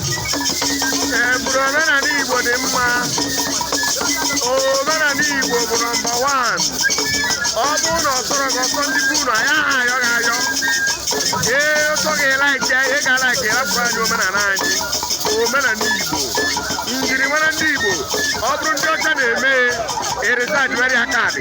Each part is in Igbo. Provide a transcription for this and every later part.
Ee, bụrụ omenala Igbo dị mma. Omenala Igbo bụ number one. Ọ bụrụ na ọ sọrọ gị ọsọ ndị bụ unu, anyị aha ayọ gị ayọ. Ee, ọ sọ gị like ya, ị ga like ya, rapụrụ anyị omenala anyị. Omenala Igbo. Njirimara ndị Igbo. Ọ bụrụ ndị ọcha na-eme ya, eresa adịwarị ya kaadị.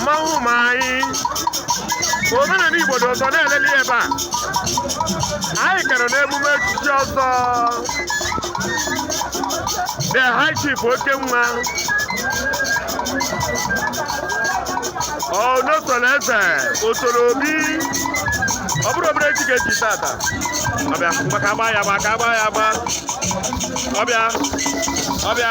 mmanwụ ma anyị omenala igbo dị ụsọ na-eleli ebe anyị kere n'emume echichi ọzọ the high chief oke nwa ọnọsọrọ eze osoro obi ọ bụrọ obere echi ka e chi tata ọbịa maka agba ya agba ka agba ya agba ọbịa ọbịa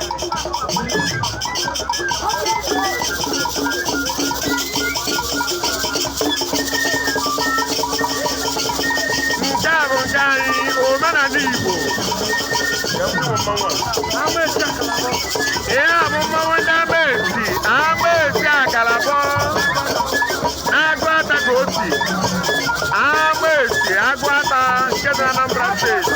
nke a bụ nke anyị omenala igbo ihe a bụ mmanwụ ndị amesi amesi akalabọ aguata ka o si amesi aguata nke dị na anambra steeti